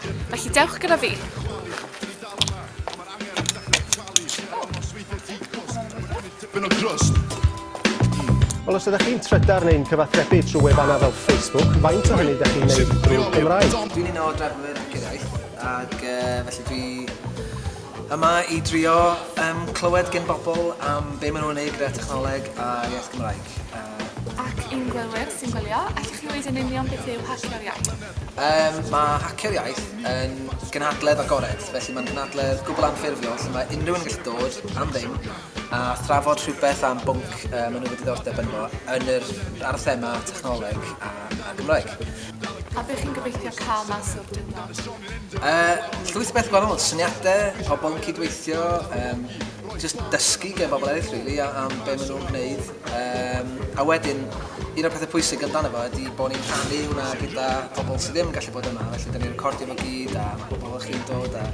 Felly dewch gyda fi. Wel, os ydych chi'n trydar neu'n cyfathrebu trwy wefannau fel Facebook, faint o hynny ydych chi'n gwneud drwy Gymraeg? Dwi'n un o drefnwyr Acuraeth, ac uh, felly dwi yma i drio um, clywed gen bobl am be maen nhw'n ei gyda technoleg a iaith Gymraeg. Uh, ac i'n gwylwyr sy'n gwylio, allwch chi wneud yn union beth yw hallgariad? Yym, mae Hacio'r Iaith yn gynhadledd agored, felly mae'n gynhadledd gwbl anffurfiol lle mae unrhyw un yn gallu dod am ddim a thrafod rhywbeth am bwnc yy maen nhw wedi ddiddordeb ynddo yn yr... ar y thema technoleg a, a Gymraeg. A be chi'n gobeithio cael mas o'r diwrnod? Yy, llwyth o beth gwahanol, syniadau, pobl yn cydweithio, yym, jyst dysgu gen bobl eraill rili a- am be maen nhw'n gwneud. Yym, a wedyn, un o'r pethau pwysig amdano fo ydy bod ni'n rhannu hwnna gyda pobl sydd ddim yn gallu bod yma, felly da ni'n recordio fo gyd a mae pobl o'ch chi'n dod a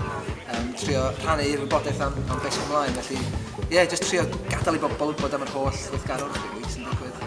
um, trio rhannu wybodaeth am, am beth sy'n ymlaen, felly ie, yeah, jyst trio gadael i bobl wybod am yr holl weithgarwch rili sy'n digwydd.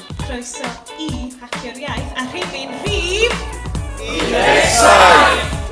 Croeso i Hacio'r Iaith a rhifyn rhif... 17!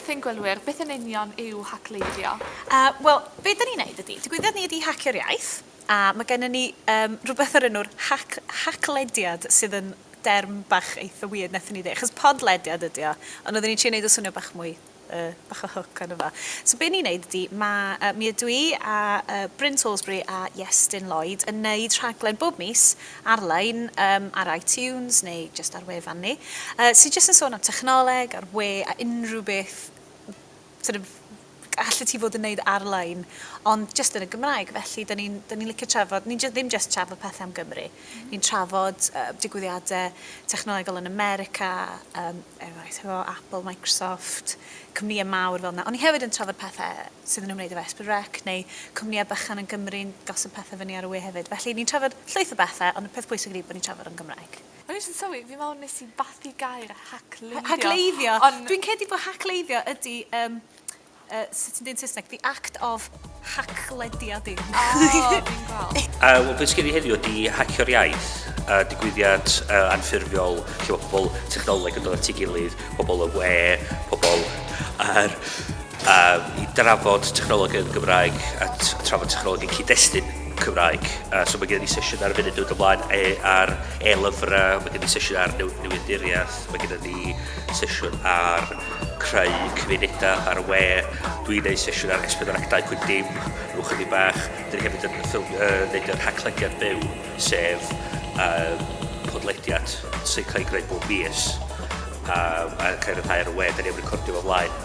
wrth ein gwylwyr beth yn union yw hacleiddio? Uh, Wel, be da ni'n neud ydy, digwyddiad ni ydy hacio'r iaith. A mae gennym ni yym rhywbeth o'r enw'r hac- haclediad sydd yn derm bach eitha weird wnaethon ni ddeud, achos podlediad ydy o, ond oedden ni'n trio wneud o swnio bach mwy yy bach o hook arno fo. So be ni'n wneud ydy, mae yy mi ydw i a yy Bryn Salisbury a Iestyn Lloyd yn wneud rhaglen bob mis ar-lein yym ar iTunes neu jyst ar wefan ni yy sy jyst yn sôn am technoleg a'r we a unrhyw beth sort of, allet ti fod yn neud ar-lein, ond jyst yn y Gymraeg, felly da ni'n da ni'n licio trafod, ni'n jyst ddim jyst trafod pethe am Gymru, ni'n trafod yy digwyddiade technolegol yn America, yym eraill hefo Apple, Microsoft, cwmnïe mawr fel 'na, ond ni hefyd yn trafod pethe sydd yn ymwneud efo Esprit Rec neu cwmnïe bychan yn Gymru'n gosod pethe fyny ar y we hefyd, felly ni'n trafod llwyth o bethe, ond y peth pwysig ydi bo' ni'n trafod o'n Gymraeg. O'n i jys yn sylwi fi me'wl nes i bathu gair hacleiddio. Hacleiddio. On'... Dwi'n credu bo' hacleiddio ydi yym yy sut ti'n deu' yn Saesneg the act of hacklediadu. O fi'n gweld. Yy wel be' sy gen i heddiw ydi Hacio'r Iaith yy digwyddiad yy anffurfiol lle ma' pobol technoleg yn dod at 'i gilydd, pobol y we, pobol yr A i drafod technolegau'r Gymraeg a trafod technolegau cyd-destun Cymraeg. A so mae gen i sesiwn ar y funud dod ymlaen e, ar e-lyfrau, mae gen i sesiwn ar new, newydduriaeth, mae gen i sesiwn ar creu cymunedau ar y we, dwi'n neud sesiwn ar S4 ac 2.dim, rhyw chydig bach, dyn hefyd yn ffilm, uh, neud yr haclediad byw, sef uh, podlediad sy'n cael ei greu bob mis a, a cael rhyddhau ar y we, dyn ni'n recordio fo flaen.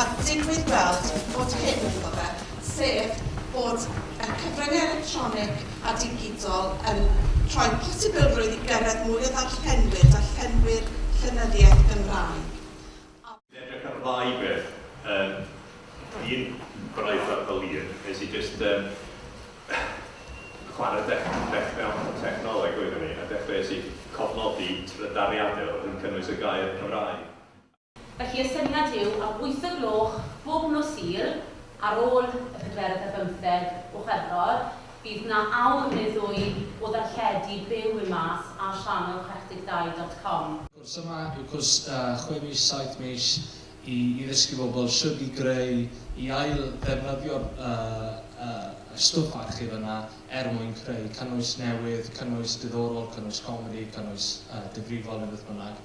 a digwydd weld bod hyn ynddo fe, sef bod y cyfryngau electronig a digidol yn rhoi posibilrwydd i gyrraedd mwy o ddarllenwyr, darllenwyr llenyddiaeth Gymraeg, a. Edrych ar ddau beth, yym, un braith ar Valiant, nes i jyst, yym, chwarae dech- dechra technoleg oeddwn i, a dechreuais i cofnodi trydariadau oedd yn cynnwys y gair Cymraeg. Felly y syniad yw am wyth o gloch bob nos Sul, ar ôl y pedwerydd ar bymtheg o Chwefror, bydd 'na awr neu ddwy o ddarlledu byw i'r maes ar sianel chwech deg dau dot com. Y cwrs yma yw cwrs chwe mis, saith mis i i ddysgu bobl shwd i greu, i ail ddefnyddio'r y stwff archif yna er mwyn creu cynnwys newydd, cynnwys diddorol, cynnwys comedi, cynnwys difrifol neu beth bynnag.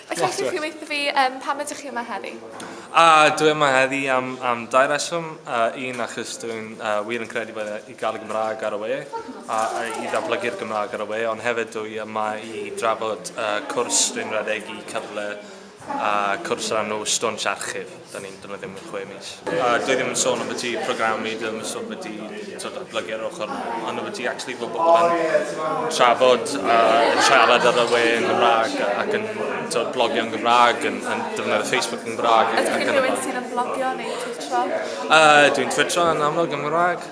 Mae gen ti rhywbeth i fi, yym pam ydych chi yma heddi? Ahh dwi yma heddi am am dau reswm yy un achos dwi'n yy wir yn credu bod e i ga'l y Gymrag ar y we a a i ddatblygu'r Gymrag ar y we ond hefyd dwi yma i drafod yy cwrs dwi'n redeg i cyfle yy cwrs ar nos stwnsh archif. Da ni'n dod o ddim yn chwe mis. A dwi ddim yn sôn am y ti programu, dwi ddim yn sôn beth i sort of blygu ar ochr, ond o beth i actually fod bobl yn trafod a yn siarad ar y we yn Gymraeg ac yn sort of blogio yn Gymraeg, yn, yn defnyddio Facebook yn Gymraeg. Ydych chi'n rhywun sydd yn blogio neu twittro? Uh, dwi'n twittro yn amlwg yn Gymraeg.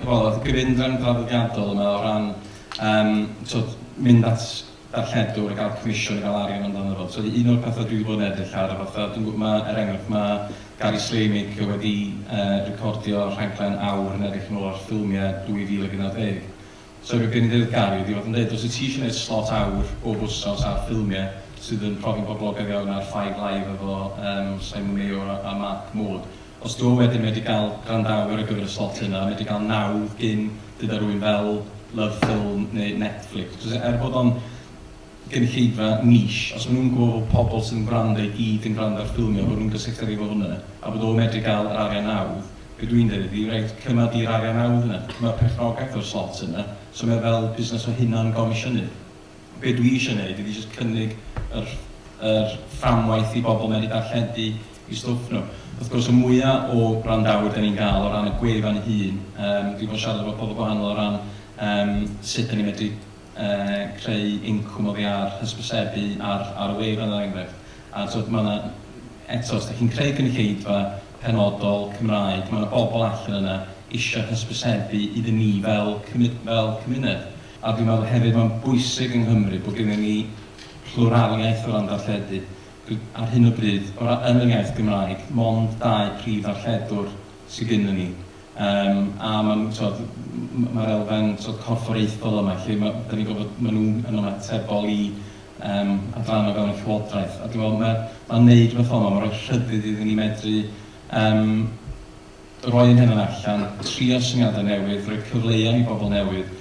Wel, oedd gyfundrefn draddodiadol yma o ran um, so, mynd at darlledwr a gael comisiwn a gael arian amdano fo. So, un o'r pethau dwi wedi bod yn edrych ar a fatha, dwi'n gwybod, mae, er enghraifft, mae Gary Slamig wedi uh, recordio rhaglen awr yn edrych yn ôl ar ffilmiau 2011. Sori oedd gen i ddeud Gary, dwi fod yn deud os wyt ti eisiau neud slot awr bob wsos ar ffilmiau sydd yn profi'n boblogaidd iawn ar Five Live efo yym Simon Mayo a a Mark Maude, os dw wedyn medru gael gwrandawyr ar gyfer y slot yna, medru cael nawdd gin gyda rywun fel Love Film neu Netflix, cos er bod o'n gynulleidfa niche, os maen nhw'n gwybod bod pobl sydd yn gwrando i gyd yn gwrando ar ffilmiau a bod nhw'n gysylltiedig efo hwnna a bod o'n medru cael yr arian nawdd, be dwi'n deud ydi, reit, cymra di'r arian nawdd yna, cymra perchnogaeth o'r slot yna, so mae o fel busnes o hunan gomisiynydd. Be dwi eisiau wneud ydi jyst cynnig yr yr fframwaith i bobl medru darlledu eu stwff nhw. Wrth gwrs, y mwya o wrandawyr dan ni'n gael o ran y gwefan ei hun, yym dwi 'di bod yn siarad efo pobl gwahanol o ran yym sut dan ni'n medru creu incwm oddi ar hysbysebu ar ar y wefan er enghraifft a t'od ma' 'na eto os dych chi'n creu gynulleidfa penodol Cymraeg ma' 'na bobl allan yna isio hysbysebu iddyn ni fel cymu- fel cymuned a dwi'n meddwl hefyd ma'n bwysig yng Nghymru bod gennyn ni plwraliaeth o ran darlledu dw- ar hyn o bryd o ra- yn yr iaith Gymraeg mond dau prif ddarlledwr sy gynnon ni Yym, a maen nhw, tibod, m- mae'r elfen, tibod, corfforaethol yma, lle ma'... dan ni'n gwybod maen nhw'n yn ymatebol i, yym, adrannau o fewn y Llywodraeth. A dwi'n meddwl ma', ma' wneud rhywbeth fel 'ma, ma'n rhoi rhyddid iddyn ni medru, yym, roi ein hunain allan, trio syniadau newydd, rhoi cyfleon i bobl newydd,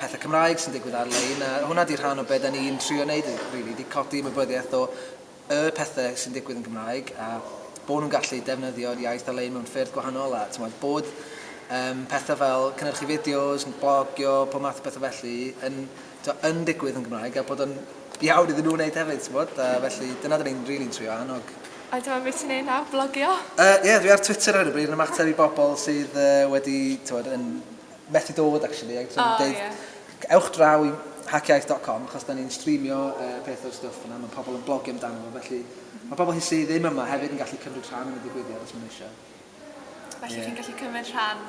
pethe Cymraeg sy'n digwydd ar-lein, a hwnna 'di rhan o be' 'dan ni'n trio neud rili, 'di codi ymwybyddiaeth o y pethe sy'n digwydd yn Gymraeg, a bo' nhw'n gallu defnyddio'r iaith ar-lein mewn ffyrdd gwahanol, a t'mod, bod um, pethe fel cynhyrchu fideos, blogio, pob math o bethe felly, yn, t'mod, yn digwydd yn Gymraeg, a bod o'n iawn iddyn nhw wneud hefyd, t'mod, a felly dyna 'dan ni'n rili'n trio annog. A dyma beth ti'n ei nawr, blogio? Ie, uh, yeah, dwi ar Twitter ar hyn o bryd yn ymateb i bobl sydd uh, wedi, t'mod, yn methu dod actually ag so o'n i'n deud ewch draw i hackiaith dot com achos da ni'n streamio uh, peth o'r stwff yna, mae pobl yn blogio amdano fo, felly mae pobl hi sydd ddim yma hefyd yn gallu cymryd rhan yn y digwyddiad os maen nhw eisiau. Felly yeah. chi'n gallu cymryd rhan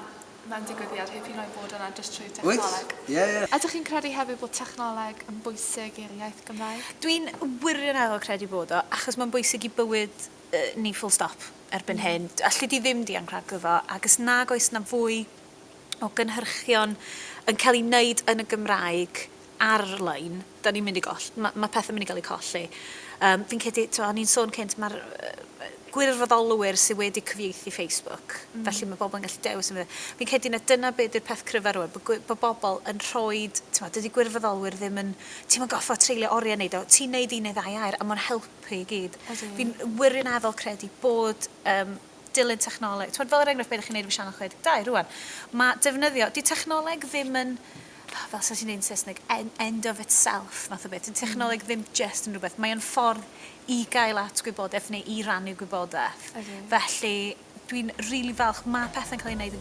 mewn digwyddiad heb hyd yn oed bod yna jyst trwy technoleg. Wyt? Ie, ie. Ydych chi'n credu hefyd bod technoleg yn bwysig i'r iaith Gymraeg? Dwi'n wirioneddol credu bod o, achos mae'n bwysig i bywyd uh, ni full stop erbyn mm. hyn. Alli di ddim dianc rhag iddo, ac os nag oes na fwy o gynhyrchion yn cael ei wneud yn y Gymraeg ar-lein, da ni'n mynd i goll-, ma' ma' pethe'n mynd i gael eu colli. Yym, fi'n credu, tibod, o'n i'n sôn cynt, mae'r gwirfoddolwyr sydd wedi cyfieithu Facebook, felly mae pobl yn gallu dewis yn Fi'n credu na dyna be di'r peth cryfa rwan, bod gwi- bod bobl yn rhoi, tibod, dydy gwirfoddolwyr ddim yn, ti'm yn gorfod treulio oriau yn neud o, ti'n neud un neu ddau air a mae'n helpu i gyd. Fi'n wirioneddol credu bod yym, dilyn technoleg. Tibod, fel er enghraifft, be ydych chi'n neud efo Sianel 62 rwan? Mae defnyddio... 'Di technoleg ddim yn, fel 'sa ti'n deud yn Saesneg, en- end of itself, math o beth. 'Di technoleg ddim jyst yn rhywbeth. Mae o'n ffordd i gael at gwybodaeth neu i rannu gwybodaeth. Ydi. Felly, dwi'n rili falch, ma' pethe'n cael eu neud yn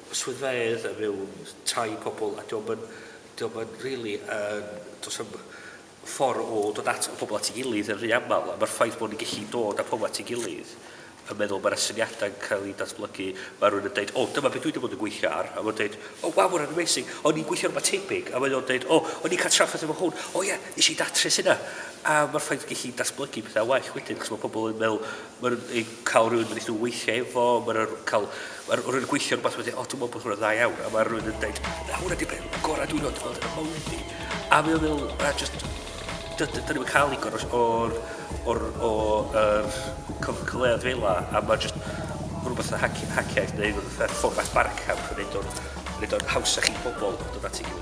swyddfeydd mewn tai pobl a dio'm yn dio'm yn rili yn do's na'm ffor o dod at y pobl at ei gilydd yn rhy amal a ma'r ffaith bo' ni'n gellu dod â pobl at ei gilydd yn meddwl ma' 'na syniada'n cael eu datblygu ma' rhywun yn deud o dyma be dwi 'di bod yn gweithio ar a ma'n deud o waw hwnna'n amazing o'n i'n gweithio ar rwbath tebyg a mae o'n deud o o'n i'n cael trafferth efo hwn o ie nes i datrys hynna a ma'r ffaith gellu datblygu pethau well wedyn achos ma' pobl yn meddwl Mae'n cael rhywun yn eitha weithiau efo, mae'n cael... Mae rhywun yn gweithio rhywbeth wedi, o, dwi'n meddwl bod hwnna'n dda iawn, a mae rhywun yn dweud, na, hwnna di beth gorau dwi'n oed gweld yn y mywyd fi. A mae o'n meddwl, a just, dyn ni'n mynd cael igor o'r, o'r, o'r cyfleoedd fel la, a mae just rhywbeth yn haciaeth neu rhywbeth fformat barcamp yn neud o'n, neud o'n haws a chi bobl dod at ei gilydd.